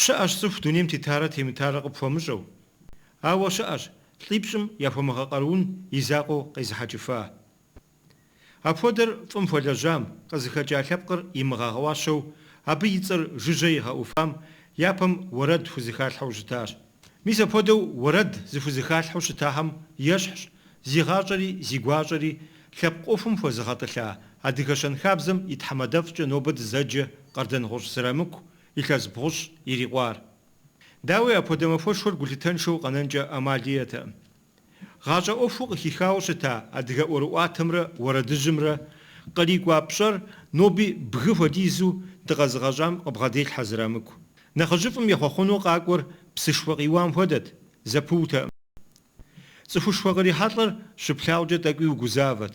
Щыӏэщ цӏыху дунейм тетарэ темытарэ къыпхуэмыщӏэу. Ауэ щыӏэщ лӏипщӏым яхуэмыгъэкъэруун и закъуэу къезыхьэкӏыфа. Апхуэдэр фӏым хуэлэжьам, къызыхэкӏа лъэпкъыр имыгъэгъуащэу, абы и цӏэр жыжьэ игъэӏуфам япэм уэрэд хузэхалъхьэу щытащ. Мис апхуэдэу уэрэд зыхузэхалъхьэу щытахэм ещхьщ зи гъащӏэри зи гуащӏэри лъэпкъ ӏуэхум хуэзыгъэтӏылъа адыгэ щэнхабзэм и тхьэмадэфӏкӏэ нобэ дызэджэ Къардэнгъущӏ Зырамыку илъэс бгъущӏ ирикъуар. Дауи, апхуэдэ махуэшхуэр гулъытэншэу къэнэнкӏэ ӏэмали иӏэтэкъым. Гъащӏэ ӏуэхуу къыхихауэ щыта адыгэ ӏуэрыӏуатэмрэ уэрэдыжьымрэ кърикӏуа пщӏэр ноби бгы хуэдизу дыкъэзыгъэщӏам къыбгъэделъхьэ Зырамыку. Нэхъыжьыфӏым ехъуэхъуну къакӏуэр псышхуэ къиуам хуэдэт, зэпыутэкъым. Цӏыхушхуэ кърихьэлӏэр щыплъагъукӏэ тӏэкӏуи угузавэт,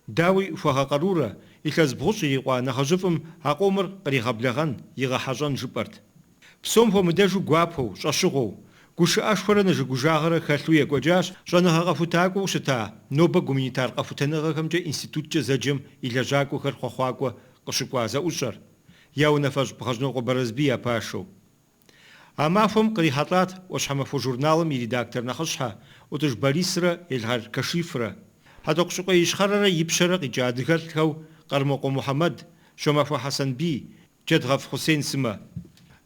Дауи, хуэгъэкъэрурэ, илъэс бгъущӏ ирикъуа нэхъыжьыфӏым а къомыр къригъэблэгъэн, игъэхьэщӏэн жыпӏэрт. Псом хуэмыдэжу гуапэу, щӏэщыгъуэу, гушыӏэшхуэрэ нэжыгужагъэрэ хэлъу екӏуэкӏащ щӏэныгъэ къэхутакӏуэу щыта нобэ гуманитар къэхутэныгъэхэмкӏэ институткӏэ зэджэм и лэжьакӏуэхэр хъуэхъуакӏуэ къыщыкӏуа зэӏущӏэр, я унафэщӏ Бгъэжьнокъуэ Бэрэзбий я пашэу. А махуэм кърихьэлӏат Ӏуащхьэмахуэ журналым и редактор нэхъыщхьэ Ӏутӏыж Борисрэ Елгъэр Кашифрэ, Хьэтӏохъущыкъуей Ищхъэрэрэ Ипщэрэ къикӏа адыгэлӏхэу Къэрмокъуэ Мухьэмэд, Щомахуэ Хьэсэнбий, Джэдгъэф Хъусен сымэ.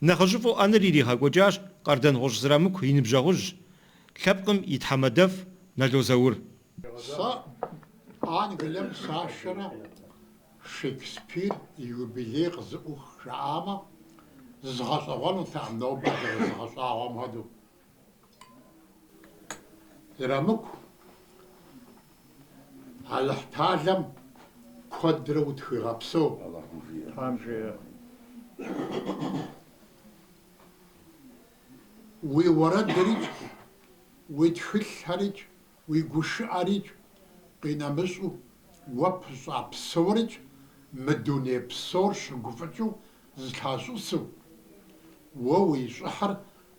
Нэхъыжьыфӏу ӏэныр иригъэкӏуэкӏащ Къардэнгъущӏ Зырамыку и ныбжьэгъужь, лъэпкъым и тхьэмадэфӏ Нало Заур. Сэ Англием сашэрэ Шекспир и юбилей къызыӏух жаӏамэ, зызгъэщӏэгъуэнутэкъым нобэ зэрызыгъэщӏагъуэм хуэдэу. Зырамыку, Алыхьталэм куэдрэ утхуигъэпсэу. Алыхьым жиӏэ. Тхьэм жиӏэ. Уи уэрэдрикӏ, уи тхылъхэрикӏ. Уи гушыӏэрикӏ къинэмыщӏу уэ пыщӏа псорикӏ мы дуней псор щыгуфӏыкӏыу зылъащӏысу, уэ уи щӏыхьыр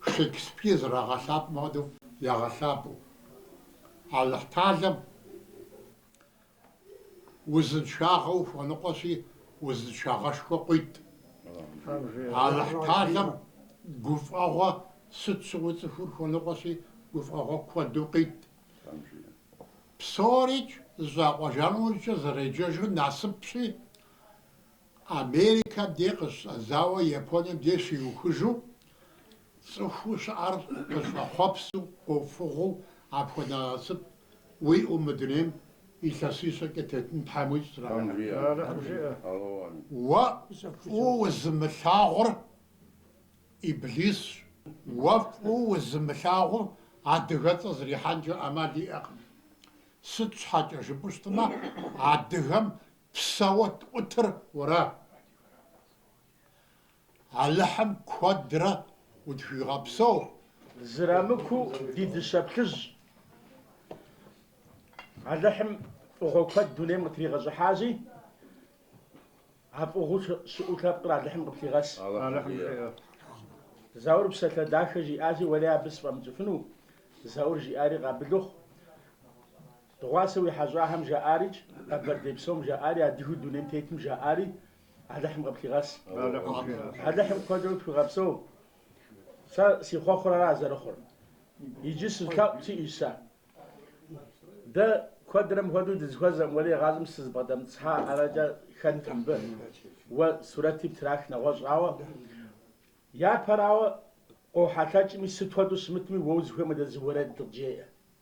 Шекспир зэрагъэлъапӏэм хуэдэу ягъэлъапӏэу. Алыхьталэм Узыншагъэ ухуэныкъуэщи, узыншагъэшхуэ къуит. Алыхьталэм гуфӏэгъуэ сыт щыгъуи цӏыхур хуэныкъуэщи, гуфӏэгъуэ куэду къит. Псорикӏ зэщӏакъуэжа нэужькӏэ зэреджэжыр насыпщи, Америкэм дей къыщӏэдзауэ Японием дей щиухыжу, цӏыхуу щыӏэр къыщӏэхъуэпсу, къофыгъуэу апхуэдэ насып Уиӏэу мы дунейм илъэсищэкӏэ тетын Тхьэм уищӏ. Уэ фӏыуэ узымылъагъур Иблисщ. Уэ фӏыуэ узымылъагъур адыгэцӏэ зрихьэнкӏэ ӏэмал иӏэкъым. Сыт щхьэкӏэ жыпӏэу щытмэ, адыгэм псэуэ тӏутыр уэращ. Алыхьым куэдрэ удхуигъэпсэу. Зрамыку ди дыщэ плъыжь. Алыхьым фӏыгъуэ куэд дунейм къытригъэщӏыхьащи, а фӏыгъуэу щыӏэу лъэпкъыр Алыхьым къыплъигъэс. Заур псалъэ дахэ жиӏащи, сэри абы сфӏэмыкӏыфыну? Заур жиӏари къабыл ухъу. Дыгъуасэ уи хьэщӏахэм жаӏарикӏ, къэбэрдей псом жаӏари, адыгэу дунейм тетым жаӏари, Алыхьым къыплъигъэс. Алыхьым куэдрэ утхуигъэпсэу. Сэ си хъуэхъур ара зэрыхъур. Иджы зы лъэӏу сиӏэщ сэ. Дэ куэдрэ мыпхуэдэу дызыхуэзэм уэри игъащӏэм сызбгъэдэмыцхьа арэкӏэ хэнт мыбы. Уэ сурэти птрах нэгъуэщӏ ауэ. Япэрауэ, къохьэлъэкӏми сыт хуэдэу щымытми уэ узыхуеймэ дэ зы уэрэд дыкъджеӏэ.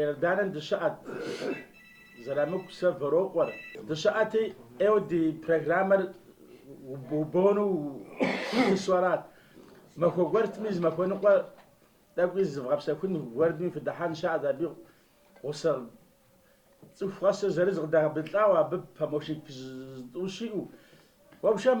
Иорданэм дыщыӏэт, Зрамыку сэ Вэрокъуэр. Дыщыӏэти, ӏейуэ ди программэр убону сыщысу арат. Махуэ гуэрми зы махуэныкъуэ тӏэкӏуи зыдгъэпсэхун гуэрми фыдыхьэн щыӏэт. Абы гъусэ цӏыху къэсыр зырыз къыдрагъэблэгъауэ, абы помощник зытӏущ иӏэу. Уэ пшэм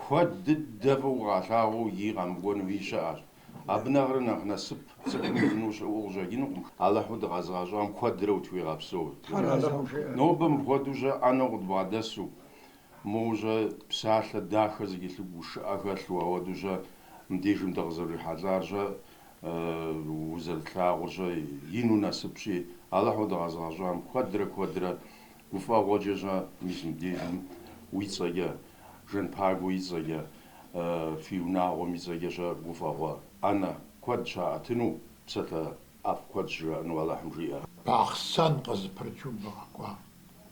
Куэд дыдэ фӏыуэ укъалъагъуу икӏи къэмыкӏуэнуи щыӏэщ. Абы нэхърэ нэхъ насып цӏыхум иӏэну щыӏэу къыщӏэкӏынукъым. Алыхьу дыкъэзыгъэщӏам куэдрэ утхуигъэпсэу. Нобэ мыпхуэдэу щӏэ ӏэнэу къыдбгъэдэсу, моуэ щӏэ псалъэ дахэ зыхэлъу гушыӏэ хэлъу, апхуэдэу щӏэ мыбдежым дыкъызэрырихьэлӏар щӏэ, узэрытлъагъур щӏэ, ину насыпщи, Алыхьу дыкъэзыгъэщӏам куэдрэ куэдрэ Гуфӏэгъуэкӏэ щӏэ мис мыбдежым уи цӏэкӏэ, Жанпагуэ и цӏэкӏэ, фи унагъуэм и цӏэкӏэ щӏэ гуфӏэгъуэ ӏэнэ куэд щаӏэтыну, псалъэ ӏэфӏ куэд щыжаӏэну Алыхьым жиӏэ. Бахъсэн къызэпрыкӏыу бгъэкӏуа?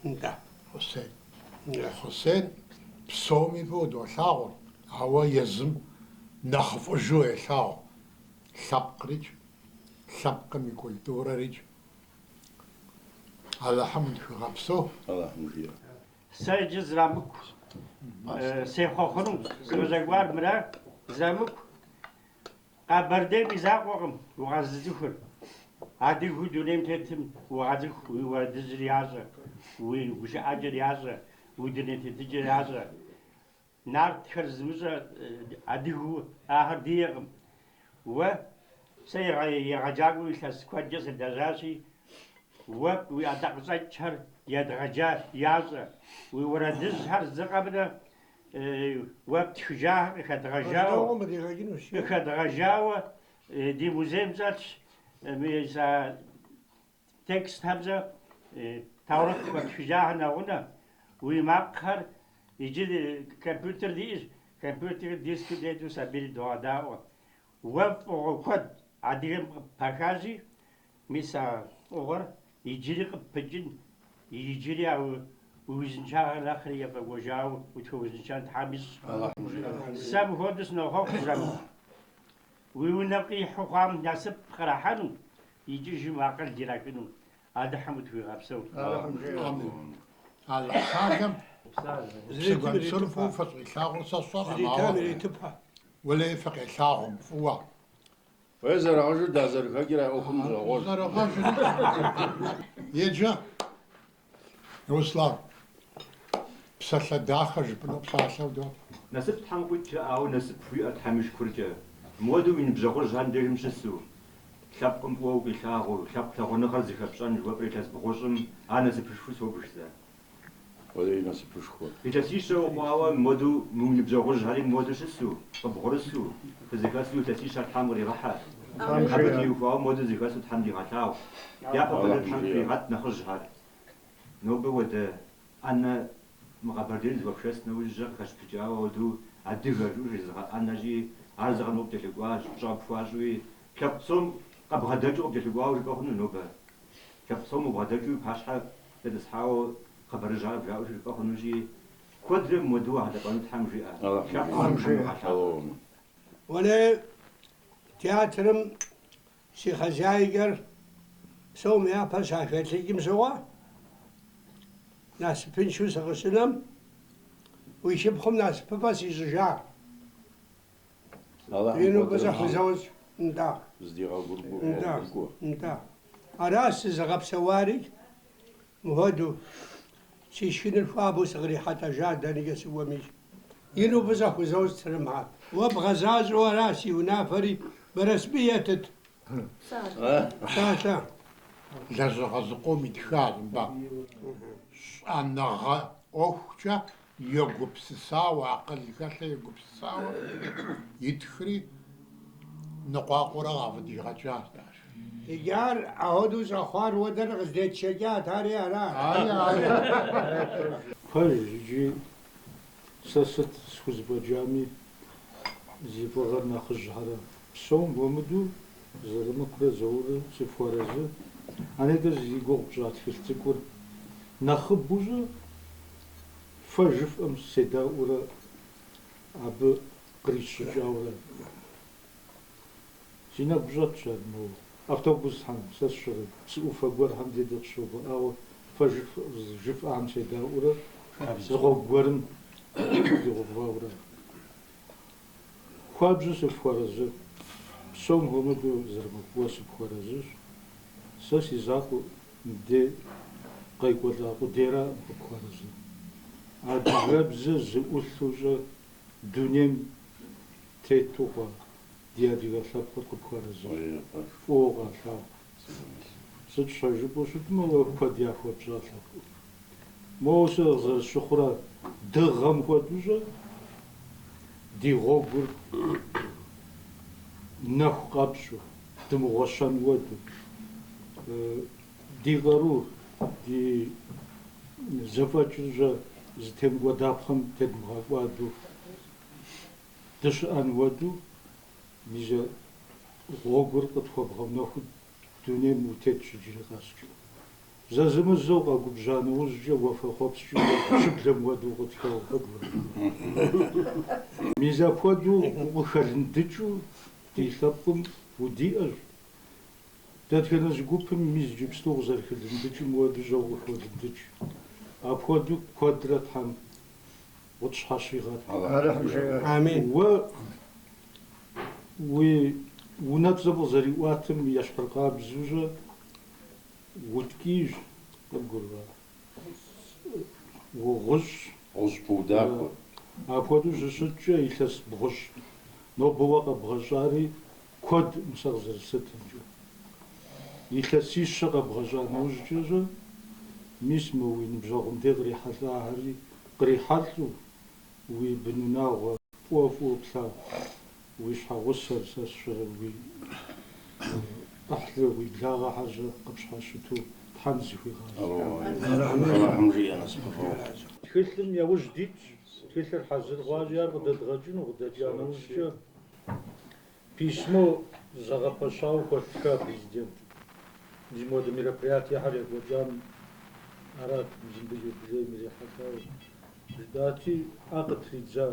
Нтӏэ. Хъусен. Нтӏэ. Хъусен псоми фӏыуэ долъагъур, ауэ езым нэхъыфӏыжу елъагъу, лъэпкърикӏ, лъэпкъым и культурэрикӏ, Алыхьым тхуигъэпсэу. Сэ иджы зрамыку сехъуэ хъуну, сыкъыщӏэкӏуар мыра, Зрамыку. Къэбэрдейм и закъуэкъым укъэзыцӏыхур. Адыгэу дунейм тетым укъацӏыху, уи уэрэдыжьыр ящӏэ, уи гушыӏэкӏэр ящӏэ, уи дуней тетыкӏэр ящӏэ. Нартхэр зымыщӏэ адыгэу ахэр диӏэкъым. Уэ сэ егъэджакӏуэу илъэс куэдкӏэ сылэжьащи, уэ уи ӏэдакъэщӏэкӏхэр едгъэджа ящӏэ. Уи уэрэдыжьхэр зы къэмынэу уэ птхыжахэр къыхэдгъэжауэ къыхэдгъэжауэ ди музейм щӏэтщ. Мис а Текстхэмкӏэ Таурыхъ уэ птхыжахэр нэгъунэ, уи макъхэр, иджы компьютер диӏэщ, компьютерым диск тету сабийр догъэдаӏуэ. Уэ фӏыгъуэ куэд адыгэм къыппихащи, мис а фӏыгъуэр иджыри къыппыкӏын, иджыри а узыншагъэр нэхъри ефӏэкӏуэжауэ утхуэузыншэн Тхьэм ищӏ. Сэ мыхуэдэу сынохъуэхъу, жэмыр. Уи унэм къихьэу хъуам насып кърахьэну, икӏыжым акъыл ирахыну Алыхьым утхуигъэпсэу. Амин. Алыхьталэм зы гуэншэр фӏыуэ фыщӏилъагъур сэ сщӏэркъым, ауэ уэлэи фыкъелъагъум фӏыуэ. Уей зэрыгъэжыр дазэрыхэкӏыр а ӏуэхум гъуэгъуэж. Зэрыгъэжри. Еджэ. Руслан, псалъэ дахэ жыпӏэну псалъэ удот. Насып Тхьэм къуит, ауэ насып уиӏэр Тхьэм и шыкуркӏэ. Мыуэду уи ныбжьэгъужьхэр дежым щысу, лъэпкъым фӏыуэ укъилъагъуу, лъэпкъ лъагъуныгъэр зыхэпщӏэн жыхуэпӏэ илъэс бгъущӏым ар насыпышхуэу собж сэ. Уэлэи насыпышхуэ. Илъэсищэ ухъуауэ мыуэду уи ныбжьэгъужьхэри мыуэду щысу, къыбгъурысу, Фызэхэсу илъэсищэр Тхьэм къригъэхьэ. Абы теухуауэ мыуэду зэхэсу Тхьэм дигъэлъагъу. Дяпэ куэдрэ Тхьэм иригъэт нэхъыжьхэр. Нобэ уэдэ ӏэнэ мы Къэбэрдейр зэхуэпшэс нэужькӏэ къыхэпщыпыкӏауэ ауэдэу Адыгэ жыӏэу жезыгъэӏэнэри, ар зы къэмынэу къыпкӏэлъыкӏуащ, пщӏэ къыпхуащӏуи. Лъэпкъ псом къыбгъэдэкӏыу къыпкӏэлъыкӏуауэ жыпӏэ хъуну нобэ? Лъэпкъ псом убгъэдэкӏыу пащхьэ дэтӏысхьауэ хъыбарыжьхэр къыбжаӏэу жыпӏэ хъунущи, Куэдрэ мыуэдэу улъэпӏэну Тхьэм жиӏэ, лъэпкъым Тхьэм игъэлъапӏэ. Уэлэ театрым си хозяйкэр псом япэ щахэлӏыкӏым щыгъуэ, насыпыншэу сыкъыщынэм, уи шыпхъум насыпыфӏэ сищӏыжа. Ину фӏыщӏэ хузощӏ. Нтӏэ. Нтӏэ. Нтӏэ. Ара сызыгъэпсэуари? Мыхуэду, си шхыныр хуабэу сыкърихьэлӏэжа дэнэкӏэ сыкӏуэми, ину фӏыщӏэ хузощӏ сырымыхьэ. Уэ бгъэзащӏэу аращ си унафэри, Бэрэсбий етыт псалъэ. Лэжьыгъэ зыкъом итхащ мыбы. Щӏэныгъэ ӏуэхукӏэ Егупсысауэ, акъыл хэлъу егупсысауэ итхри, ныкъуакъуэурэ къафӏыдигъэкӏат ар. Иджы ар ахуэдэу щӏэхъуар уэ дэр къыздетшэкӏат, ари ара? Ари, ари. Пэж икӏи сэ сыт схузэфӏэкӏами, зи фӏыгъэр нэхъыжьхэра. Псом хуэмыдэу Зырамыкурэ Зауррэ сыфхуэарэзы. А нетӏэ зи гугъу пщӏа тхылъ цӏыкӏур нэхъыбэу щӏэ, фэ жыфӏэм седаӏуэурэ абы кърисщӏыкӏауэрэ си нэгу щӏэтщ ар моуэ. Автобусхэм сэ сщӏэрэ, псы ӏуфэ гуэрхэм де дыкъыщыувыӏауэ фэ жыфӏэхэм седаӏуэурэ зы гъуэгу гуэрым дигъэувауэрэ. Хуабжьу сыпхуэрэзы, псом хуэмыдэу Зырамыку сыпхуэрэзыщ, сэ си закъуэ мыбдей къекӏуэлӏа къудейракъым къыпхуэрэзыр. Адыгэбзэ зыӏулъу-щӏэ дунейм тету хъуа ди адыгэ лъэпкъыр къыпхуэрэзыщ, фӏыуэ укъалъагъу. Сыт щхьэ жыпӏэу щытмэ, уэ куэд яхуэпщӏа лъэпкъым. Моуэ сэ къызэрысщыхъура, дыгъэм хуэдэущӏэ ди гъуэгур нэху къэпщӏу, дымыгъуэщэн хуэдэу. Ди къарур, ди зэфӏэкӏыр щӏэ зытемыкӏуэдапхъэм тедмыгъэкӏуадэу дыщыӏэн хуэдэу, мис а гъуэгур къытхуэбгъэнэхуу дунейм утетщ иджыри къэскӏэ. Зэзэмызэ укъэгубжьа нэужькӏэ уафэхъуэпскӏи щыблэм хуэдэу укъытхэуэ хуэдэу. Мис апхуэдэу укъыхэлындыкӏыу ди лъэпкъым удиӏэщ. Дэтхэнэ зы гупым мис иджыпсту укъызэрыхэлындыкӏым хуэдэу щӏэ укъыхолындыкӏ. Апхуэдэу куэдрэ Тхьэм. Укъытщхьэщигъэт. Алыхьым жиӏэ. Амин. Уэ уи унэцӏэм къызэриӏуатэм ещхьыркъабзэу щӏэ уткӏийщ, къыбгурыӏуа? Угъущӏщ. Гъущӏ пыудахуэ. Апхуэдэу щыщыткӏэ илъэс бгъущӏ. Нобэ уэ къэбгъэщӏари Куэд сэ къызэрыслъытэмкӏэ. Илъэсищэ къэбгъэщӏа нэужькӏэщӏэ, мис мы уи ныбжьэгъум де кърихьэлӏахэри кърихьэлӏэу, уи бын унагъуэ фӏыуэ фӏыуэ плъагъу уи щхьэгъусэр сэ сщӏэрэ уи ӏыхьлы, уи благъэхэр щӏэ къыпщхьэщыту Тхьэм зыхуигъазэ. Тхылъым яужь дитщ, тхылъыр хьэзыр хъуащи, ар къыдэдгъэкӏыну къыдэкӏа нэужькӏэ, Письмо зэгъэпэщауэ хуэтлъхьа Президент? Ди моды мероприятиехэр екӏуэкӏам арат Мзимбыл юбилейм ирихьэлӏауэ жытӏати, ӏэ къытридза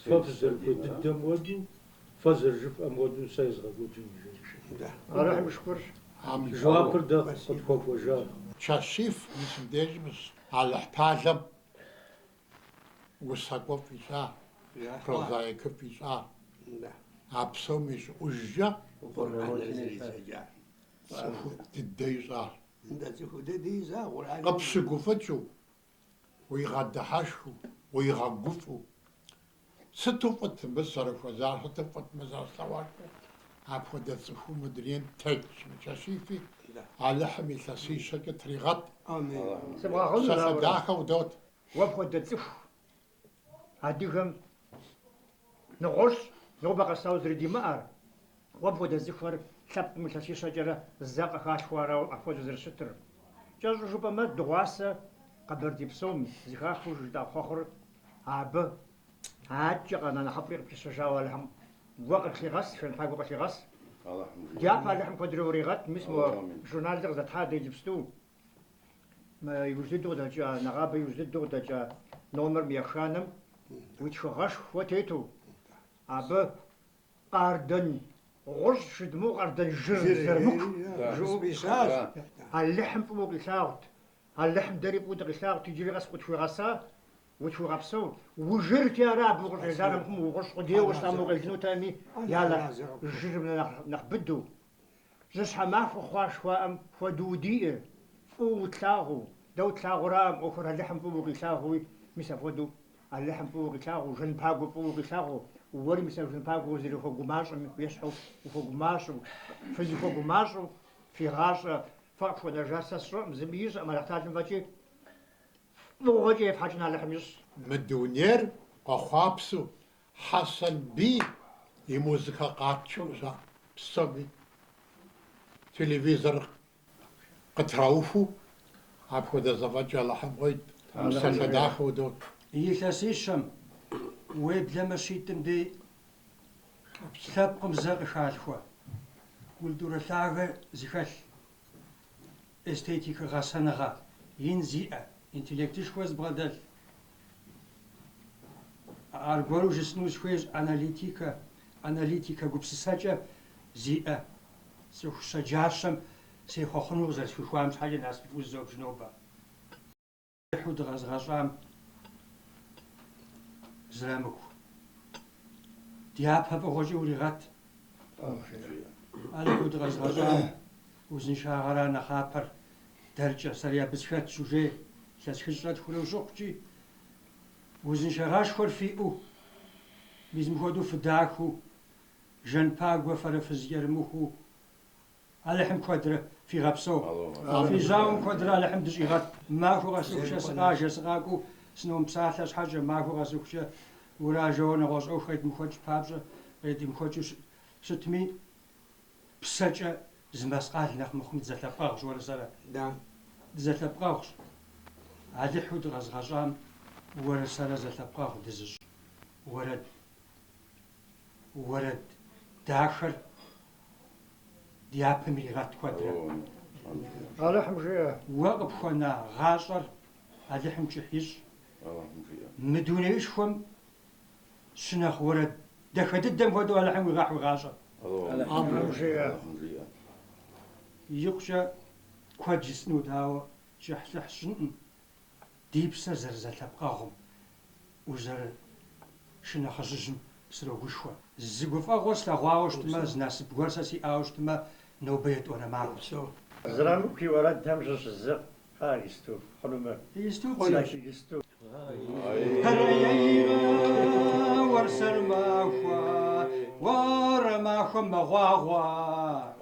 Фэ фызэрыхуей дыдэм хуэдэу, фэ зэрыжыфӏэм хуэдэу сэ езгъэкӏуэкӏын, жери. Жэуапыр дэ къытхуэкӏуэжа? Кашиф и сым дежи Алыхьталэм усакӏуэфӏ ищӏа, прозаикыфӏ ищӏа, а псом и щӏыӏужкӏэ цӏыху дыдэ ищӏа. Къыпщыгуфӏыкӏыу, уигъэдыхьэшхыу, уигъэгуфӏэу, Сыту фӏыт мыбы сызэрыхуэзар, сыту фӏыт мыр зэрыслъэгъуар, апхуэдэ цӏыхуу мы дунейм тетщ, мы Кашифи, Алыхьым илъэсищэкӏэ тригъэт, псалъэ дахэ удот. Уэ пхуэдэ цӏыху адыгэм нэгъуэщӏ нобэ къэсауэ зэрыдимыӏэр, Уэ пхуэдэ цӏыхухэр лъэпкъым илъэсищэкӏэрэ зэ къыхалъхуэ арауэ апхуэдэу зэрыщытыр. Кӏэщӏу жыпӏэмэ, дыгъуасэ Къэбэрдей псом зыхахыу жытӏа хъуэхъур абы адэкӏэ къэна нэхъыфӏри къыпищэжауэ Алыхьым уэ къыплъигъэс, Жанпагуэ къылъигъэс. Дяпэ Алыхьым куэдрэ уригъэт, мис мо журналыр къыздэтхьа дэ иджыпсту, мы иужь дыдэу къыдэкӏа, нэгъабэ иужь дыдэу къыдэкӏа номер еханэм уи тхыгъэшхуэ тету, абы Къардэн гъущӏ жыдмыӏэу Къардэн жыр зэрымыку жыӏэу къищащ. Алыхьым фӏыуэ къилъагъут. Алыхьым дэри фӏыуэ дыкъилъагъут, иджыри къэс къытхуигъэса, утхуигъэпсэу. Ужырти ара абы укъыщӏелар абыхэм угъущӏ къудейуэ щытам укъелынутэми, я нэхъ жырым нэхъ быдэу. Жьыщхьэмахуэ хъуа жыхуаӏэм хуэдэу удиӏэ, фӏыуэ утлъагъуу. Дэ утлъагъураӏым ӏуэхур, Алыхьым фӏыуэ укъилъагъууи, мис апхуэдэу Алыхьым фӏыуэ укъилъагъуу, Жанпагуэ фӏыуэ укъилъагъуу. Уэри мис а Жанпагуэ узэрыхуэгумащӏэм ещхьу ухуэгумащӏэу, фызыхуэгумащӏэу фи гъащӏэ фэ къыфхуэнэжар сэ сщӏэӏым, зыми ищӏэӏым Алыхьталэм фӏэкӏи, фӏыгъуэкӏэ ефхьэкӏын Алыхьым ищӏ. Мы дунейр къэхъуапсэу, Хьэсэнбий и музыкэ къатшэу щӏа псоми телевизор къытраухыу, апхуэдэ зэфӏэкӏ Алыхьым къыуит, псалъэ дахэ удот. Илъэсищэм, уеблэмэ щитӏым дей лъэпкъым зэ къыхалъхуэ, культурэ лъагэ зыхэлъ. эстетикэ гъэсэныгъэ ин зиӏэ, интеллектышхуэ зыбгъэдэлъ, аргуэру жысӏэну сыхуейщ, аналитикэ, аналитикэ гупсысэкӏэ зиӏэ цӏыху щэджащэм сехъуэхъуну къызэрысхуихуам щхьэкӏэ насыпыфӏэу зызобж нобэ. Хьу дыкъэзгъэщӏам Зырамыку. Дяпэ фӏыгъуэкӏэ уригъэт. Алыхьу дыкъэзгъэщӏам узыншагъэра нэхъапэр дэркӏэ, сэри абы схэтщ, уже илъэс хыщӏрэ тхурэ ущыхъукӏи, узыншагъэшхуэр фиӏэу, мис мыхуэдэу фыдахэу, Жанпагуэ фэрэ фызкӏэрымыхуу. Алыхьым куэдрэ фигъэпсэу. Фи жьауэм куэдрэ Алыхьым дыщӏигъэт. Махуэ къэсыхукӏэ сыкъажэ, сыкъакӏуэу сыномыпсалъэ щхьэкӏэ, махуэ къэсыхукӏэ уражэуэ нэгъуэщӏ ӏуэху къедмыхуэкӏ папщӏэ, къедмыхуэкӏыу щытми, псэкӏэ зы мэскъал нэхъ мыхъуми дызэлъэпкъэгъущ, уэрэ сэрэ. Дызэлъэпкъэгъущ. Алыхьу дыкъэзыгъэщӏам уэрэ сэрэ зэлъэпкъэгъу дызыщӏ уэрэд. Уэрэд дахэр Дяпэм иригъэт куэдрэ. Алыхьым жиӏэ. Уэ къыпхуэна гъащӏэр Алыхьым кӏыхь ищӏ. Алыхьым жиӏэ. Мы дунеишхуэм щынэхъ уэрэд дахэ дыдэм хуэдэу Алыхьым уигъэхь уи гъащӏэр. Алыхьым жиӏэ. Алыхьым жиӏэ. Икъукӏэ куэд жысӏэнут, ауэ кӏыхьлӏыхь сщӏынкъым. ди псэр зэрызэлъэпкъэгъум, узэрышынэхъыжьыжьым срогушхуэ. Зы гуфӏэгъуэ слъэгъуауэ щытмэ, зы насып гуэр сэ сиӏауэ щытмэ, нобэ етӏуанэ махуэщ. Зырамыку и уэрэдхэм щыщ зы хъа гисту хъуну мыр? Гисту хъуну? Сэ си гисту. Хьэрыейрэ уэрсэрмахуэ, уэрэ махуэм мэгъуагъуэ.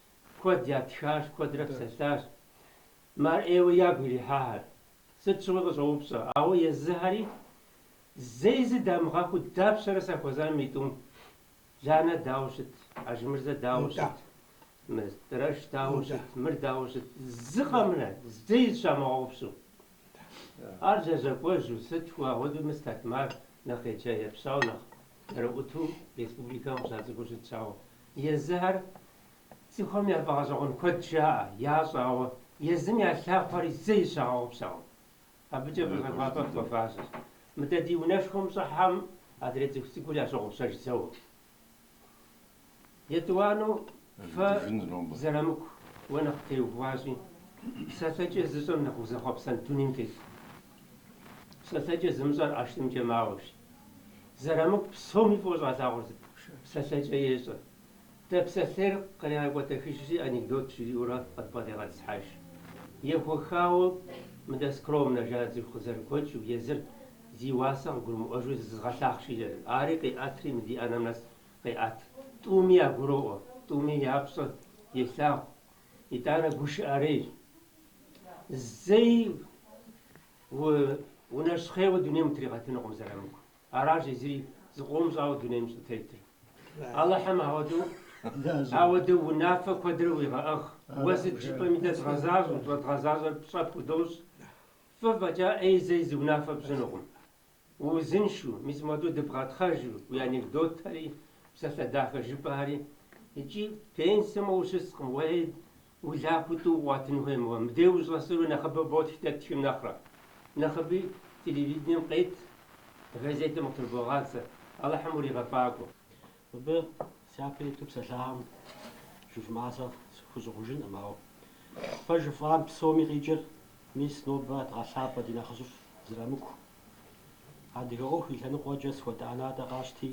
Куэд ятхащ, куэдрэ псэлъащ мы ар ӏейуэ ягу ирихьахэр. Сыт щыгъуи къыщӏоупщӏэ, ауэ езыхэри зэи зы дамыгъэхуу, дапщэрэ сахуэзами тӏум? Ланэ дауэ щыт, Ажмырзэ дауэ щыт, Мыстрэш дауэ щыт, мыр дауэ щыт, зы къэмынэу зэи зыщамыгъэгъупщэу? Ар лэжьакӏуэжьу, сыт хуэу ахуэдэу мыстэтмэ, ар нэхъ еджа-епщауэ, нэхъ цӏэрыӏуэу республикэм къыщацӏыхуу щытщ, ауэ Езыхэр цӏыхухэм я фӏэгъэщӏэгъуэн куэд жаӏэ, ящӏэ, ауэ езым я лъахъуэри зэи зыщагъэгъупщэкъым. Абыкӏэ бгъэлъапӏэ хуэфащэщ. Мыдэ ди унэшхуэм щӏыхьэм адрей цӏыху цӏыкӏур ящогъупщэж зэуэ. Етӏуанэу фэ Зырамыку уэ нэхъ теухуащи, псалъэкӏэ зыщӏэм нэхъ узэхъуэпсэн дунейм телъ. Псалъэкӏэ зымыщӏэр ӏэштӏымкӏэ мауэщ. Зырамыку псоми фӏыуэ щӏалъагъур сыт? Псалъэкӏэ ещӏэ. Дэ псалъейр къыригъэкӏуэтэхыжри, анекдот жриӏэурэ къыдбгъэдигъэтӏысхьэж. Ехуэхауэ мыдэ скромнэ жаӏэ, цӏыху къызэрыгуэкӏыу езыр зи уасэ къыгурымыӏуэжу зызгъэлъахъши, ари къиӏэтри мы ди ӏэнэм нэс къеӏэт. Тӏуми ягуроӏуэ, тӏуми я пщӏэ елъагъу, итӏанэ гушыӏэрей зэи Уэ унэщхъейуэ дунейм утригъэтынукъым Зырамыку. Аращ езыри зыкъом щӏауэ дунейм щӏытетыр. Алыхьым ауэдэу ауэдэу унафэ куэдрэ уигъэӏыгъ. Уэ сыт жыпӏэми дэ дгъэзащӏэм, щӏэдгъэзащӏэр пщӏэ пхудощӏ. Фӏы фӏэкӏа ӏей зэи зы унафэ пщӏынукъым. Уузыншу, мис модэу дыбгъэтхъэжу уи анекдотхэри, псалъэ дахэ жыпӏахэри. Икӏи пенсэм ущыскъым, уей, улахуэ тӏу къуатын хуейм уэ, мыбдеж ущӏэсыру нэхъыбэу ботх дэ ттхым нэхърэ. Нэхъыби телевидением къет, газетым къытрыбогъадзэ. Алыхьым уригъэфӏакӏуэ. Мыбы сяпэ иту псэлъахэм жыфӏам сэ схущӏыгъужынкъым, ауэ фэ жыфӏам псоми къикӏыр, мис нобэ дгъэлъапӏэ ди нэхъыжьыфӏ Зырамыку. Адыгэ ӏуэху и лъэныкъуэкӏэ сыт хуэдэ ӏэнатӏэ къащти,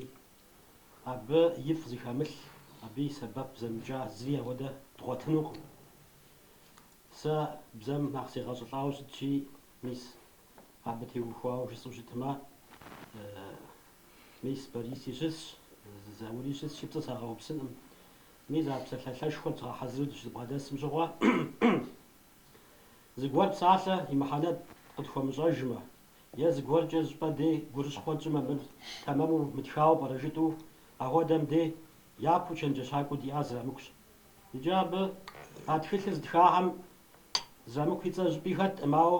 абы ифӏ зыхэмылъ, абы и сэбэп зэмыкӏа зыри ауэдэ дгъуэтынукъым. Сэ бзэм нэхъ сегъэщӏылӏауэ щытщи, мис абы теухуауэ жысӏэу щытмэ, Мис Бориси щысщ, Заури щысщи, пцӏы сагъэупсынкъым. Мис а псалъалъэшхуэр дгъэхьэзыру дыщыбгъэдэсым щыгъуэ, зыгуэр псалъэ и мыхьэнэ къытхуэмыщӏэжмэ, е зыгуэркӏэ зыщӏыпӏэ дей гурыщхъуэ тщӏымэ, мыр тэмэму мытхауэ пӏэрэ жытӏу, ахуэдэм дей япэу чэнджэщакӏуэу диӏар Зырамыкущ. Иджы абы а тхылъыр зытхахэм Зырамыку и цӏэ щӏыпӏи хэттэкъым, ауэ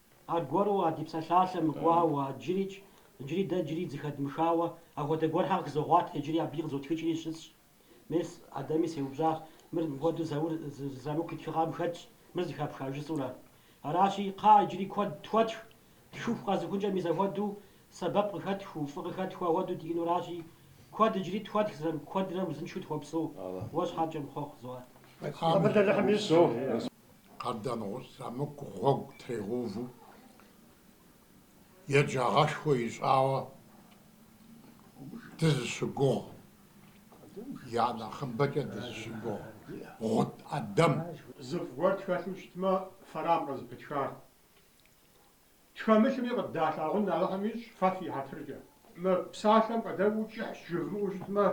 Аргуэру а ди псалъалъэм имыхуауэ, иджырикӏ, иджыри дэ иджыри зэхэдмыхауэ, апхуэдэ гуэрхэр къызогъуэт, иджыри абыи къызотхыкӏри щысщ. Мес, Ӏэдэми сеупщӏащ, Мыр мыпхуэдэу Заур Зырамыку и тхыгъэм хэтщ, мыр зэхэпха жысӏэурэ. Аращи, кхъа, иджыри куэд тхуэтх, птхыху къэзыхункӏэ мис ахуэдэу сэбэп къыхэтхыу, фӏы къыхэтхыу ахуэдэу диӏэнуращи, куэд иджыри тхуэтх, Зырамыку, куэдрэ узыншэу тхуэпсэу, уэ щхьэкӏэ мэхъуэхъу, Зуар. Абы дэлэхьи мис. Къардэнгъущӏ Зырамыку гъуэгу тригъэуву, еджагъэшхуэ ищӏауэ дызыщыгугъ, я нэхъыбэкӏэ дызыщыгугъ Гъут Ӏэдэм. Зыфӏ гуэр тхэлъу щытмэ, фэрам къызыпытхар. Тхэмылъми къыддалъагъун Алыхьым ищӏ, фэ фи хьэтыркӏэ. Мы псалъэм къыдэкӏуэу кӏыхьщ жывмыӏэу щытмэ,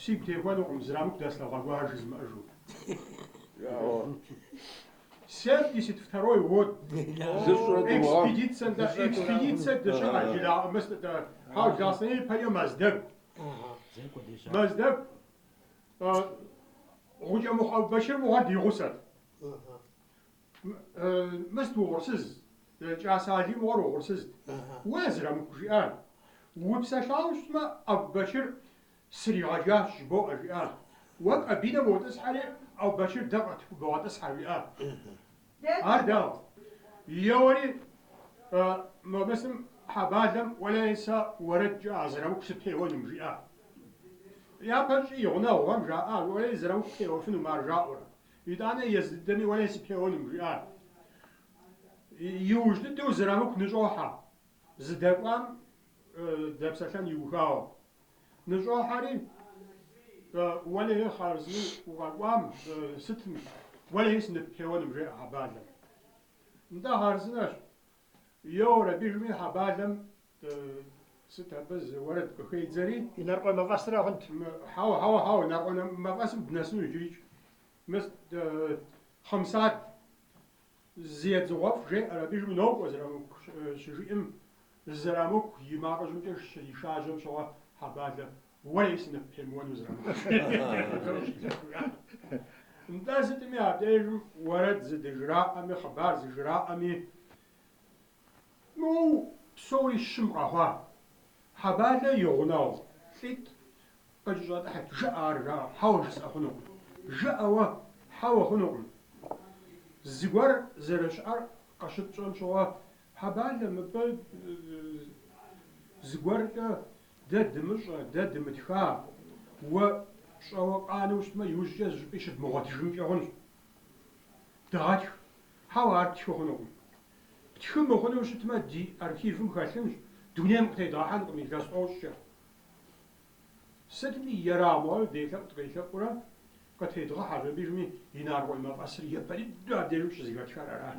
сигу техуэнукъым Зырамыку дэслъэгъуа гуэр жызмыӏэжу. Семьдесят второй год экспедицэ нтӏэ, экспедицэ дыщыӏэ жыраӏэмыс нтӏэ, хьау Ласэне ипэкӏэ Мэздэгу. Мэздэгу Гъукӏэмыхъу Ӏэбубэчыр мыгъуэр ди гъусэт. Мыст угъурсыз, кӏа сали мыгъуэр угъурсызт. Уэ Зырамыку жиӏар. Упсэлъауэ щытмэ, Ӏэбубэчыр сригъэжащ жыбоӏэ, жиӏа. Уэ кабинэм уотӏысхьэри, Ӏэбубэчыр дэ къытбогъэтӏысхьэ, жиӏа. Ар дауэ? Еуэри мамысым Хьэбалэм уэлэи сэ уэрэдкӏэ а Зырамыку сыпеуэнум, жиӏа. Япэщӏи и гъунэгъухэм жаӏа, уэи Зырамыку пеуэфынум ар жаӏэурэ. Итӏанэ езы дыдэми уэлэи сыпеуэнум, жиӏат. Иужь дыдэу Зырамыку ныщӏохьэ, зыдэкӏуам дэпсэлъэн иухауэ. Ныщӏохьэри, уэлэи хъарзынэу укъэкӏуам сытым, уэлэи сыныппеуэнум, жеӏэ Хьэбалэм. Нтӏэ, хъарзынэщ. Йоуэр абыжми Хьэбалэм сыт абы зы уэрэд къыхедзэри. Инарыкъуей мафӏэсыра хъунт. Хьэуэ, хьэуэ, хьэуэ, Инарыкъуей мафӏэсым дынэсыну иджырикӏ. Мыс, Хъымсад, зы едзыгъуэфӏ жеӏэр абыжми нокӏуэ Зырамыку щыжиӏэм, Зырамыку и макъыжьымкӏэ щришажьэм щыгъуэ Хьэбалэ Уэлэи сыныппемыуэн уэ, Зырамыку. Нтӏэ, сытми а дежым уэрэд зыдыжраӏэми, хъыбар зыжраӏэми, моу псори щым къэхъуа. Хьэбалэ и гъунэгъу лӏитӏ къыкӏэщӏэтӏыхьырт, жыӏэ ар жаӏэу, хьэуэ жысӏэ хъунукъым, жыӏэ уэ, хьэуэ хъунукъым. Зыгуэр зэрыщыӏэр къыщытщӏэм щыгъуэ, Хьэбалэ, мыбы зыгуэркӏэ Дэ дымыщӏэ, дэ дымытха, уэ пщӏэуэ къанэу щытмэ, иужькӏэ зыщӏыпӏи щыдмыгъуэтыжынкӏэ хъунщ. Дыгъэтх. Хьэуэ, ар птхы хъунукъым. Птхы мыхъуну щытмэ, ди архивым хэлъынщ, дунейм къытедгъэхьэнкъым илъэс тӏощӏкӏэ. Сытми, ерагъ мыгъуэу делъэӏу-дыкъелъэӏуурэ къытедгъэхьэщ, абыжми Инарыкъуей мафӏэсыр япэ дыдэу абдежым щызыхэтхар арат.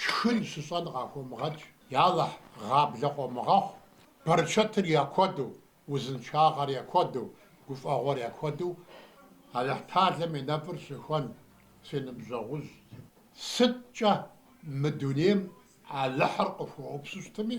Шхын щыщӏэн къахуомыгъэкӏ, ялэхь, гъаблэ къомыгъэхъу, бэрчэтыр я куэду, узыншагъэр я куэду, гуфӏэгъуэр я куэду Алыхьталэм и нэфӏыр щыхуэн, си ныбжьэгъужь. Сыткӏэ мы дунейм Алыхьыр къыхуэупсэу щытми,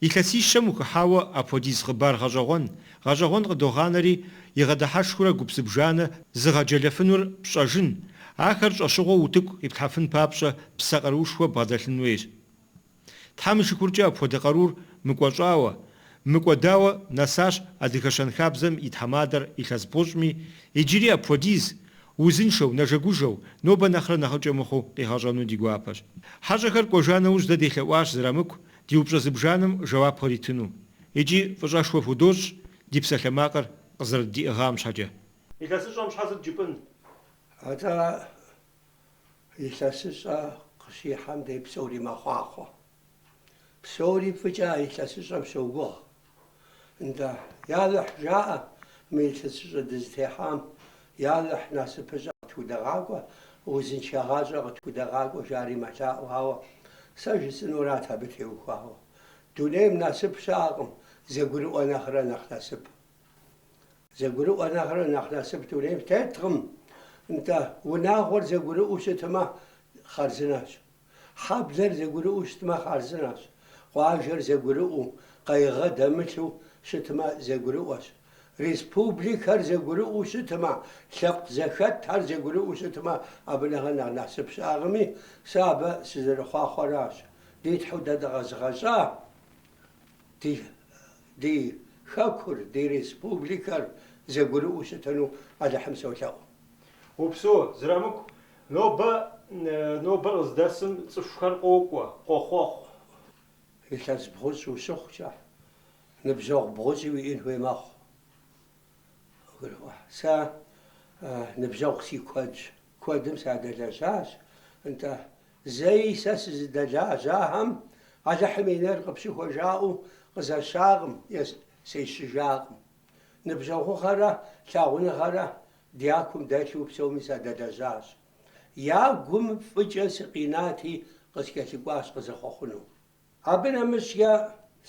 Илъэсищэм ухыхьауэ апхуэдиз хъыбар гъэщӏэгъуэн, гъэщӏэгъуэн къыдогъанэри, игъэдыхьэшхыурэ гуп зыбжанэ зыгъэджэлэфынур пщӏэжын, ахэр щӏэщыгъуэу утыку къиплъхьэфын папщӏэ псэ къаруушхуэ бгъэдэлъын хуейщ. Тхьэм и шыкуркӏэ апхуэдэ къарур мыкӏуэщӏауэ, мыкӏуэдауэ нэсащ адыгэ щэнхабзэм и тхьэмадэр илъэс бгъущӏми, иджыри апхуэдиз, узыншэу, нэжэгужэу, нобэ нэхърэ нэхъыкӏэ мыхъуу къигъэщӏэну ди гуапэщ. Хьэщӏэхэр кӏуэжа нэужь дэ делъэӏуащ Зырамыку, ди упщӏэ зыбжанэм жэуап хуэритыну, икӏи фӏыщӏэшхуэ худощӏ ди псалъэмакъыр къызэрыддиӏыгъам щхьэкӏэ. Илъэсыщӏэм щхьэ сыт жыпӏын? Атӏэ, илъэсыщӏэ къыщихьэм дей псори мэхъуахъуэ. Псори фӏыкӏэ а илъэсыщӏэм щогугъ, Нтӏэ, Ялыхь, жаӏэ мы илъэсыщӏэ дызытехьам, Ялыхь, насыпыщӏэ къытхудэгъакӏуэ, узыншэ гъащӏэ къытхудэгъакӏуэ, жари мэлъаӏу, ауэ сэ жысӏэнурат абы теухуауэ. Дунейм насып щыӏэкъым, зэгурыӏуэ нэхърэ нэхъ насып. Зэгурыӏуэ нэхърэ нэхъ насып дунейм теткъым. Нтӏэ, унагъуэр зэгурыӏуэу щытмэ, хъарзынэщ. Хьэблэр зэгурыӏуэу щытмэ, хъарзынэщ, къуажэр зэгурыӏуэу, къайгъэ дэмылъу щытмэ, зэгурыӏуэщ. Республикэр зэгурыӏуэу щытмэ, лъэпкъ зэхэтхэр зэгурыӏуэу щытмэ, абы нэхърэ нэхъ насып щыӏэкъыми, сэ абы сызэрыхъуахъуэращ. Ди Тхьэу дэ дыкъэзыгъэщӏа ди Хэкур, ди республикэр зэгурыӏуэу щытыну Алыхьым солъэӏу. Упсэу, Зырамыку, Нобэ, нобэр къыздэсым цӏыхухэр къокӏуэ, къохъуэхъу. Илъэс бгъущӏ ущыхъукӏэ, ныбжьэгъу бгъущӏи уиӏэн хуей мэхъу. Гурыӏуа? Сэ ныбжьэгъу си куэдщ, куэдым садэлэжьащ, нтӏэ, зэи сэ сызыдэлажьахэм Алыхьым и нейр къыпщыхуэ жаӏэу къызэщакъым е сещыжакъым. Ныбжьэгъугъэрэ лъагъуныгъэрэ Дякум дэлъу псоми садэлэжьащ. Я гум фӏыкӏэ сыкъинати, къыскӏэлъыкӏуащ къызэхъуэхъуну. Абы нэмыщӏкӏэ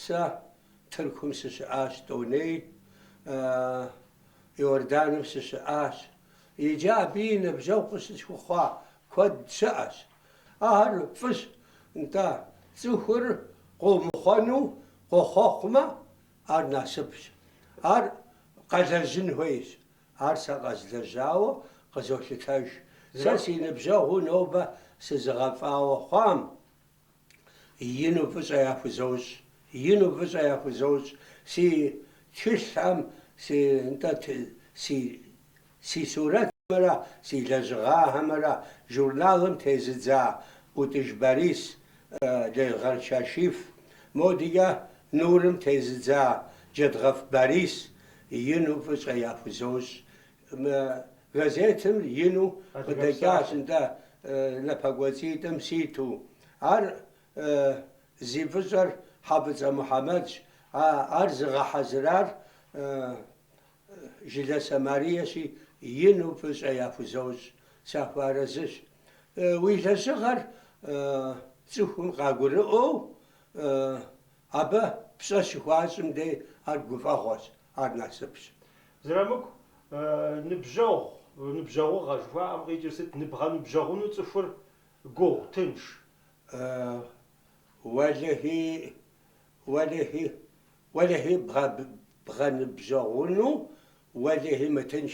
сэ Тыркум сыщыӏащ, тӏоней Иорданым сыщыӏащ. Иджы абыи ныбжьэгъу къыщысхуэхъуа куэд щыӏэщ. Ахэр фӏыщ, нтӏэ, цӏыхур къомыхъуэну къохъуэхъумэ, ар насыпщ. Ар къэлэжьын хуейщ, Ар сэ къэзлэжьауэ къызолъытэж. Сэ си ныбжьэгъуу нобэ сызыгъэфӏауэ хъуам ину фӏыщӏэ яхузощӏ, ину фӏыщӏэ яхузощӏ. Си тхылъхэм, си, нтӏэ, си, си сурэтхэмрэ си лэжьыгъэхэмрэ журналым тезыдза Ӏутӏыж Борис, Елгъэр Кашиф, модикӏэ Нурым тезыдза Джэдгъэф Борис, Ину фӏыщӏэ яхузощӏ. Мы газетым ину къыдэкӏащ нтӏэ напэкӏуэцӏитӏым ситу. Ар зи фӏыщӏэр Хьэфӏыцӏэ Мухьэмэдщ, ар зыгъэхьэзырар Жыласэ Мариещи, ину фӏыщӏэ яхузощӏ. Сахуэарэзыщ. Уи лэжьыгъэр цӏыхум къагурыӏуэу Абы пщӏэ щыхуащӏым дей ар гуфӏэгъуэщ, ар насыпщ. Зырамыку ныбжьэгъу, ныбжьэгъугъэ жыхуаӏэм къикӏыр сыт? Ныбгъэныбжьэгъуну цӏыхур гугъу, тынш. Уэлэхьи бгъэныбжьэгъуну, уэлэхьи мытынш.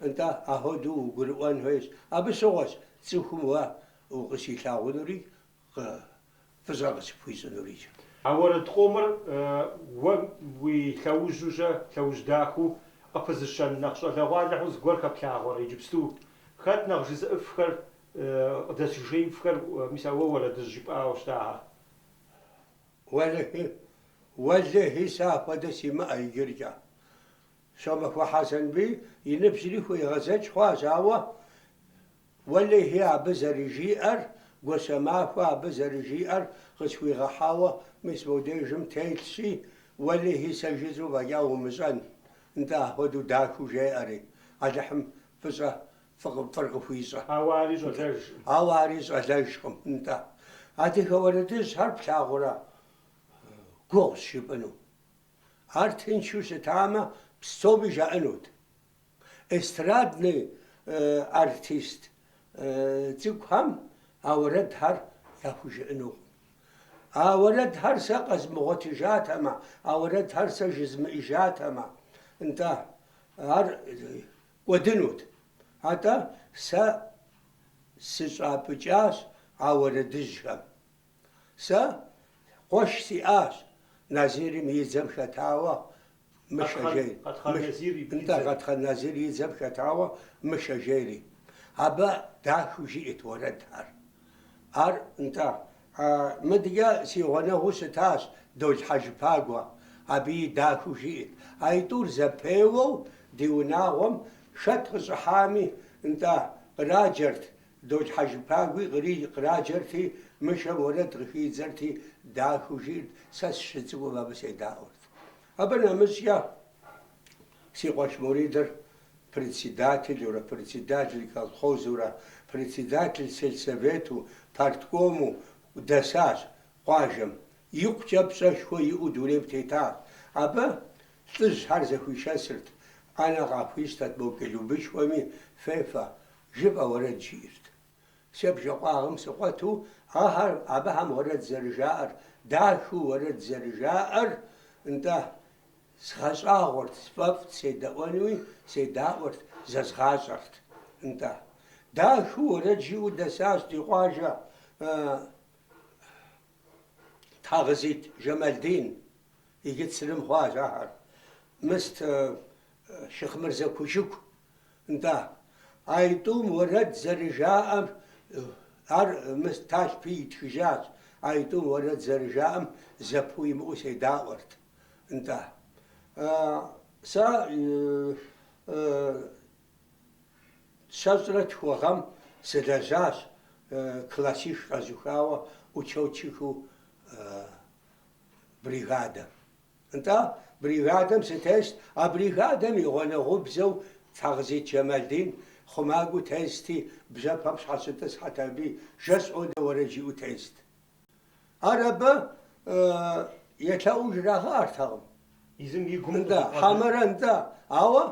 Нтӏэ, ахуэдэу угурыӏуэн хуейщ. Абы щыгъуэщ цӏыхум уэ укъыщилъагъунури фӏыщӏэ къыщыпхуищӏынури. А уэрэд къомыр уэ уи лъэужьужьэ, лъэужь дахэу къыпызыщэн нэхъ щӏалэгъуалэ хьу зыгуэр хэплъагъуэрэ иджыпсту? Хэт нэхъ жызыӏэфхэр, къыдэсыжеифхэр? Мис а уэ уэрэдыжь жыпӏауэ щытахэр? Уэлэхьи, сэ апхуэдэ симыӏэ иджыркӏэ. Щомахуэ Хьэсэнбий и ныбжьри хуегъэзэкӏ хъуащ, ауэ, уэлэхьи, абы зэрыжиӏэр, Гуащэмахуэ абы зэрыжиӏэр къысхуигъэхьауэ, мис мобдежым телъщи, уэлэхьи, сэ жысӏэу фӏэкӏа умыщӏэн, нтӏэ, апхуэдэу дахэу жеӏэри, Алыхьым фӏыщӏэ, фӏыр къыхуищӏэ. Ауэ ари щӏалэжкъым, нтӏэ. Адыгэ уэрэдыжьхэр плъагъурэ гугъущ жыпӏэну. Ар тыншу щытамэ, псоми жаӏэнут. Эстраднэ артист цӏыкӏухэм а уэрэдхэр яхужыӏэнукъым. А уэрэдхэр сэ къэзмыгъуэтыжатэмэ, а уэрэдхэр сэ жызмыӏыжатэмэ, нтӏэ, ар кӏуэдынут. Атӏэ сэ сыщӏапӏыкӏащ а уэрэдыжьхэм. Сэ къуэш сиӏащ Назирым и дзэм хэтауэ Мышэ жери. Къэтхъан Назир и дзэм хэтауэ Мышэ жери. Абы дахэу жиӏэт уэрэдхэр. Ар, нтӏэ, мыдэкӏэ си гъунэгъуу щытащ Дол Хьэжыпагуэ. Абыи дахэу жиӏэт. А итӏур зэпеуэу ди унагъуэм хэт къыщӏыхьами, нтӏэ, къраджэрт Дол Хьэжыпагуи къри къраджэрти, Мышэм уэрэд къыхидзэрти, дахэу жиӏэрт, Сэ сщыцӏыкӏум абы седаӏуэрт. Абы нэмыщӏкӏэ си къуэш Муридыр председателурэ, председатель колхозурэ, председатель сельсовету, парткому дэсащ къуажэм. Икъукӏэ пщӏэшхуэ иӏэу дунейм тетащ. Абы лӏыжьхэр зэхуишэсырт, ӏэнэ къахуищтэрт мо клубышхуэми фефэ, Жыфӏэ уэрэд жиӏэрт. Сэ бжэкъуагъым сыкъуэту ахэр абыхэм уэрэд зэрыжаӏэр, дахэу уэрэд зэрыжаӏэр, нтӏэ, згъэщӏагъуэрт, сфӏэфӏт, седэӏуэнуи седаӏуэрт, зэзгъащӏэрт, нтӏэ. Дахэу уэрэд жиӏэу дэсащ ди къуажэ Тхьэгъызит Жэмалдин, иджы Црым хъуащ ахэр. Мыст Шыхъмырзэ Кушыку, нтӏа, а итӏум уэрэд зэрыжаӏэм, ар мы Талъпи итхыжащ, а итӏум уэрэд зэрыжаӏэм зэпыу имыӏэу седаӏуэрт, нтӏа. Сэ щэщӏрэ тху гъэм сылэжьащ, классих къэзухауэ, учетчикыу бригадэм. Нтӏэ, бригадэм сытест, а бригадэм и гъунэгъубзэу Тхьэгъызит Жэмалдин хъумакӏуэу тести, бжьэпэм щхьэщытӏысхьэт аби жэщ одэ уэрэд жиӏэу тест. Ар абы елъэӏуу жрагъэӏэртэкъым. Езым и гум къыщӏэкӏуэдэ. Нтӏэ, хьэмэрэ нтӏэ, ауэ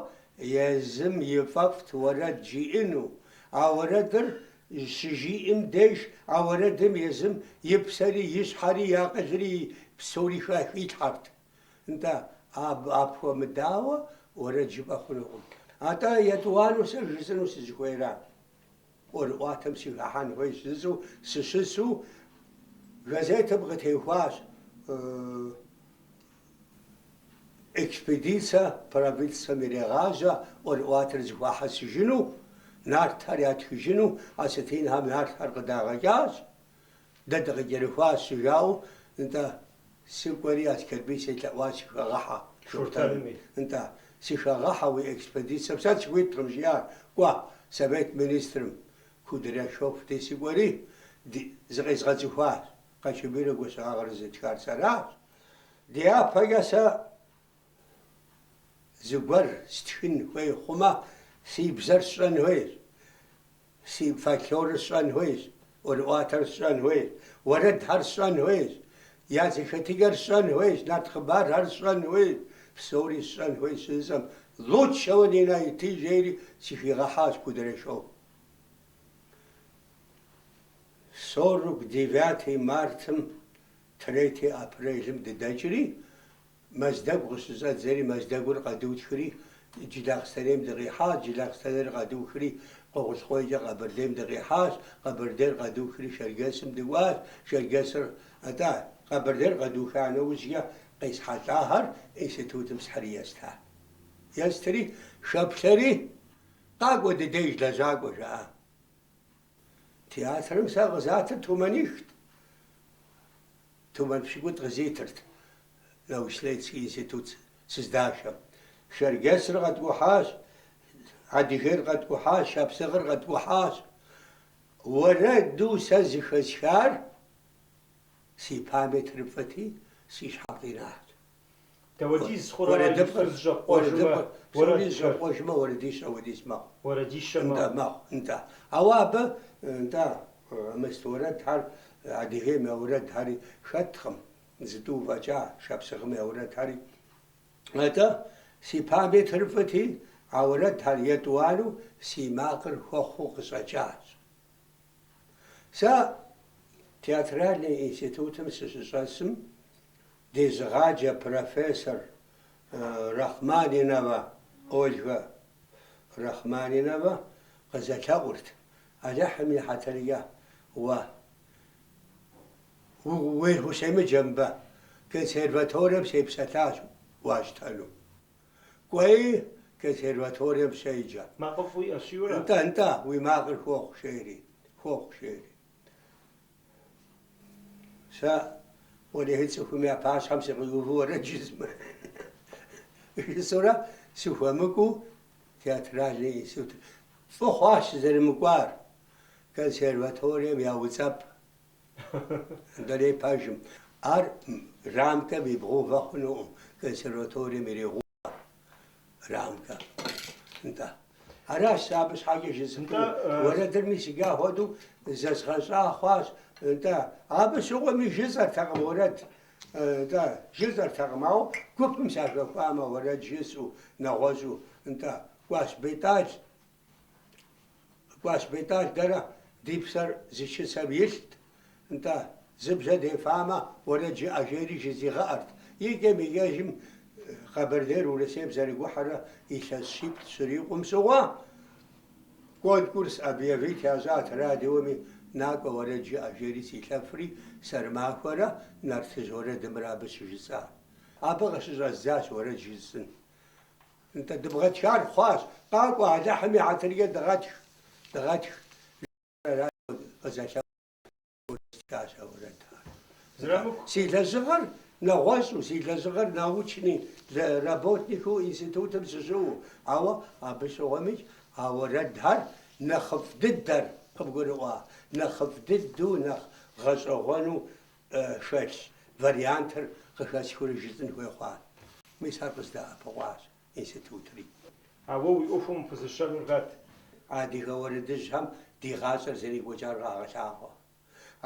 езым ифӏэфӏт уэрэд жиӏэну, а уэрэдыр Щыжиӏэм деж а уэрэдым езым и псэри, и щхьэри, и акъылри, псори хилъхьэрт. Нтӏэ, абы апхуэмыдауэ уэрэд жыпӏэ хъунукъым. Атӏэ, етӏуанэу сэ жысӏэну сызыхуейра, ӏуэрыӏуатэм сыхыхьэн хуейщ жысӏэу сыщысу, газетым къытехуащ Экспедицэ правительствэм ирегъажьэ ӏуэрыӏуатэр зэхуахьэсыжыну, нартхэр ятхыжыну осетинхэм нартхэр къыдагъэкӏащ. Дэ дыкъыкӏэрыхуащ, жаӏэу, нтӏэ, сыкӏуэри Аскэрбий селъэӏуащ сыхэгъэхьэ, Шортэнми, нтӏэ, сыхэгъэхьэ уи экспедицэм, сэ сыхуиткъым, жиӏар, кӏуэ, совет министрым, Кудряшов дей сыкӏуэри, ди, зыкъезгъэцӏыхуащ, Къанщобийрэ Гуащэгъагърэ зытхар сэращ. Дяпэкӏэ сэ зыгуэр стхын хуей хъумэ, си бзэр сщӏэн хуейщ, си фольклорыр сщӏэн хуейщ, ӏуэрыӏуатэр сщӏэн хуейщ, уэрэдхэр сщӏэн хуейщ, я зэхэтыкӏэр сщӏэн хуейщ, нарт хъыбархэр сщӏэн хуейщ, псори сщӏэн хуейщ щыжысӏэм, лучшего не найти, жери сыхигъэхьащ Кудряшов. Сорок девятый мартым Третий апрелым дыдэкӏри, Мэздэгу къыщыщӏэддзэри, Мэздэгур къэдухри, Джылахъстэнейм дыкъихьащ, Джылахъстэнейр къэдухри, Къуэгъулъкъуейкӏэ Къэбэрдейм дыкъихьащ, Къэбэрдейр къэдухри, Шэрджэсым дыкӏуащ, Шэрджэсыр, атӏэ, Къэбэрдейр къэдуха нэужькӏэ къесхьэлӏахэр институтым схьыри еста. Естри, хэплъэри, Къакӏуэ ди деж лэжьакӏуэ, жаӏа. Театрым сэ къызатыр тумэнихт. Тумэн пщыкӏутӏ къызитырт научно-исследовательский институт сыздашэм. Шэрджэсыр къэткӏухьащ, Адыгейр къэткӏухьащ, шапсыгъыр къэткӏухьащ. Уэрэду сэ зыхэсхар си памятыр фӏыти, си щхьэм къинат. Дапхуэдиз хъурэ ар иджыпсту зыщӏэпкъуэжмэ, уэрэд псори зыщӏэпкъуэжмэ, уэрэдищэ хуэдиз мэхъу. Уэрэдищэ мэхъу. Нтӏэ, мэхъу, нтӏэ. Ауэ абы, нтӏэ, мыст уэрэдхэр, Адыгейм я уэрэдхэри хэткъым, зытӏу фӏэкӏа, шапсыгъым я уэрэдхэри. Атӏэ, си памятыр фӏыти, а уэрэдхэр етӏуанэу си макъыр хуэхъуу къыщӏэкӏащ. Сэ Театральный институтым сыщыщӏэсым, дезыгъаджэ профессор Рахманинова Ольгэ Рахманинова къызэлъэӏурт, Алыхьым и хьэтыркӏэ, уэ, уей, ущемыджэ мыбы, консерваторием сепсэлъащ уащтэну. Кӏуэи, консерваторием щеджэ. Макъыфӏ уиӏэщ, жиӏэурэ? Нтӏэ, нтӏэ, уи макъыр хуохъу, жери. Хуохъу, жери. Сэ, уэлэхьи, цӏыхум я пащхьэм сыкъиувэу уэрэд жысӏэмэ? Жысӏэурэ, сыхуэмыкӏуэу театральный институт. Фӏы хъуащ сызэрымыкӏуар, консерваторием яуцӏэпӏ Дуней пэжым, ар рамкэм ибгъэувэ хъунукъым, консерваторием ирегъэувэ рамкэ, нтӏэ. Аращ сэ абы щхьэкӏэ жысӏэну, уэрэдыр мис седжа хуэдэу зэзгъэщӏа хъуащ, нтӏэ. Абы щыгъуэми жысӏэртэкъым уэрэд, нтӏэ, жысӏэртэкъым, ауэ гупым сахэхуамэ, уэрэд жысӏэу, нэгъуэщӏу, нтӏэ, кӏуащ Бетӏал. Кӏуащ Бетӏал дэрэ ди псэр зы чысэм илът, нтӏэ, зы бжьэ дефамэ, уэрэд жыӏэ, жери жызигъэӏэрт. Икӏэм икӏэжым Къэбэрдейр Урысейм зэрыгухьэрэ илъэс щиплӏ щрикъум щыгъуэ, конкурс объявить ящӏат радиоми, Накӏуэ, уэрэд жыӏэ, жери силъэфри, сэрымахуэрэ нартыжь уэрэдымрэ абы щыжысӏа. Абы къыщыщӏэздзащ уэрэд жысӏын. Нтӏэ, дыбгъэтхар хъуащ. Къакӏуэ, Алыхьым и хьэтыркӏэ дыгъэтх, дыгъэтх, жиӏэращ абы. Къызэлъэӏуакъым, къыхуэстхащ а уэрэдхэр. Нтӏэ, си лэжьыгъэр нэгъуэщӏу, си лэжьыгъэр научный работникыу институтым сыщыӏэу, ауэ абы щыгъуэмикӏ а уэрэдхэр нэхъыфӏ дыдэр къыбгурыӏуа, нэхъыфӏ дыдэу, нэхъ гъэщӏэгъуэну хэлъ вариантыр къыхэсхыурэ жысӏын хуей хъуа? Мис ар къыздэӏэпыкъуащ институтри. Ауэ уи ӏуэхум пызыщэнур хэт? Адыгэ уэрэдыжьхэм ди гъащӏэр зэрекӏуэкӏар къагъэлъагъуэ.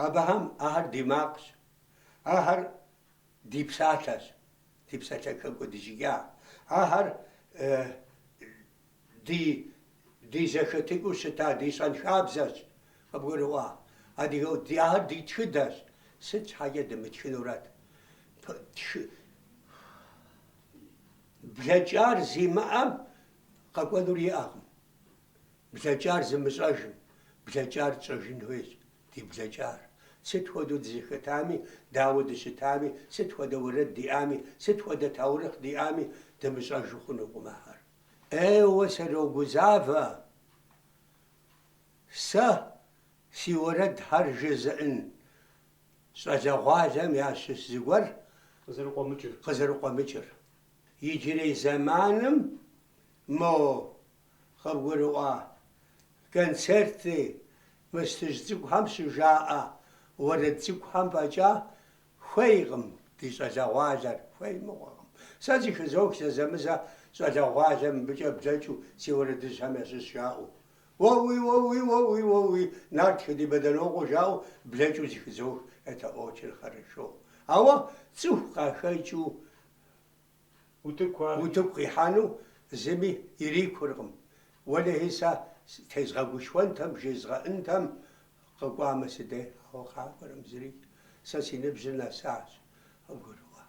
Абыхэм ахэр ди макъщ. Ахэр ди псалъэщ, ди псалъэ хэкӏуэдыкӏыжа. Ахэр Ди ди зэхэтыкӏыу щыта ди щэнхабзэщ, къыбгурыӏуа? Адыгэу ди, ахэр ди тхыдэщ, сыт щхьэкӏэ дымытхынурэт? Пы тхы блэкӏар зимыӏэм къэкӏуэнур иӏэкъым, блэкӏар зымыщӏэжым, блэкӏар тщӏэжын хуейщ, ди блэкӏар. Сыт хуэдэу дызэхэтами, дауэ дыщытами, сыт хуэдэ уэрэд диӏами, сыт хуэдэ таурыхъ диӏами, дымыщӏэжу хъунукъым ахэр. Еуэ сырогузавэ сэ си уэрэдхэр жызыӏын щӏалэгъуалэм ящыщ зыгуэр къызэрыкъуэмыкӏыр. Иджырей зэманым мо къыбгурыӏуа концерти мыстыжь цӏыкӏухэм щыжаӏэ уэрэд цӏыкӏухэм фӏэкӏа Хуейкъым ди щӏалэгъуалэр, хуей мыгъуэкъым. Сэ зыхызох зэзэмызэ щӏалэгъуалэ мыбыкӏэ блэкӏыу си уэрэдыжьхэм ящыщ жаӏэу. Уэуи, уэуи, уэуи, уэуи, нартхэ ди Бэдынокъуэ жаӏэу блэкӏыу зыхызох это очень хорошо. Ауэ цӏыху къахэкӏыу Утыку къихьэну зыми ирикуркъым. Уэлэхьи, сэ тезгъэгушхуэнтэм, жезгъэӏынтэм къэкӏуамэ си дей, ауэ къакӏуэркъым зыри, сэ си ныбжьыр нэсащ, къыбгурыӏуа.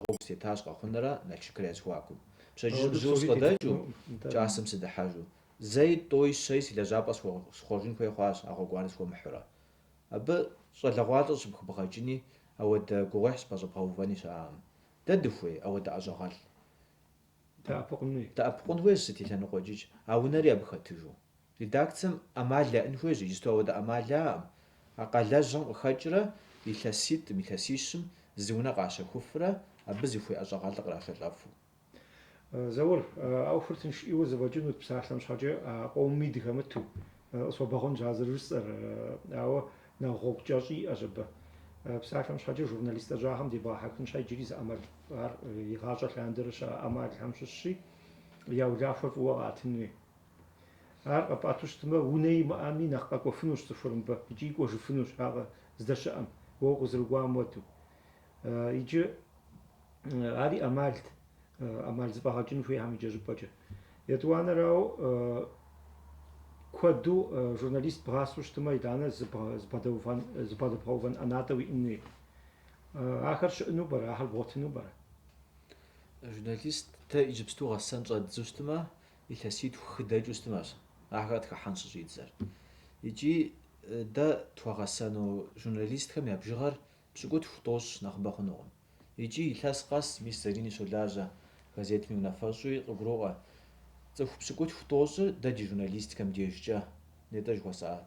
Гъуэгу сытетащ Къэхъунрэ Налшыкрэ я зэхуакум. Пщэдджыжьым жьыуэ сыкъыдэкӏыу, кӏасэм сыдыхьэжу. Зэи, тӏуи, щэи си лэжьапӏэр схъуэжын хуей хъуащ а гъуэгуанэр схуэмыхьурэ. Абы щӏалэгъуалэ щӏыпхыбгъэкӏыни, ауэдэ гугъуехь щӏыпэщӏэбгъэувэни щыӏэкъым. Дэ дыхуей ауэдэ ӏэщӏагъэлӏ? Удэӏэпыкъун хуейщ сыт и лъэныкъуэкӏикӏ а унэри абы хэтыжу. Редакцэм ӏэмал яӏын хуейщ, иджысту ауэдэ ӏэмал яӏэкъым. А къалэжьым къыхэкӏрэ илъэситӏым, илъэсищым зы унэ къащэхуфрэ абы зыхуей ӏэщӏагъэлӏыр кърахьэлӏэфу. Заур, а ӏуэхур тынш ӏейуэ зэфӏэкӏынут псалъэм щхьэкӏэ, а къомми дыхэмыту. Къысхуэбгъэгъунщ а зэрыжысӏэр, ауэ нэхъ гъуэгу кӏэщӏи иӏэщ абы. Псалъэм щхьэкӏэ журналист лэжьагъэм дебгъэхьэхын щхьэ иджыри зы ӏэмал ар игъащӏэ лъандэрэ щыӏэ ӏэмалхэм щыщщи, я улахуэр фӏыуэ къэӏэтынуи. Ар къэпӏэту щытмэ, унэ имыӏэми нэхъ къэкӏуэфынущ цӏыхур мыбы икӏи кӏуэжыфынущ ар здэщыӏэм, уэ укъызэрыкӏуам уэду. Иджы ари ӏэмалт, ӏэмал зэфӏэгъэкӏын хуейхэм иджы щӏыпӏэкӏэ. Етӏуанэрауэ куэду журналист бгъасэу щытымэ, итӏанэ зыбгъэдэбгъэувэн ӏэнатӏэ уиӏэн хуей. Ахэр щыӏэну пӏэрэ, ахэр бгъуэтыну пӏэрэ? Журналист дэ иджыпсту гъэсэн щӏэддзу щытымэ, илъэситху-хы дэкӏыу щытымэщ ахэр къытхыхьэн щыщӏидзэр. Икӏи дэ тхуэгъэсэну журналистхэм я бжыгъэр Пщыкӏутху тӏощӏ нэхъыбэ хъунукъым. Икӏи илъэс къэс мис Зарини щолажьэ газетми унафэщӏуи къыгуроӏуэ, цӏыху пщыкӏутху тӏощӏыр дэ ди журналистикэм дежкӏэ нетӏэ жыхуэсӏа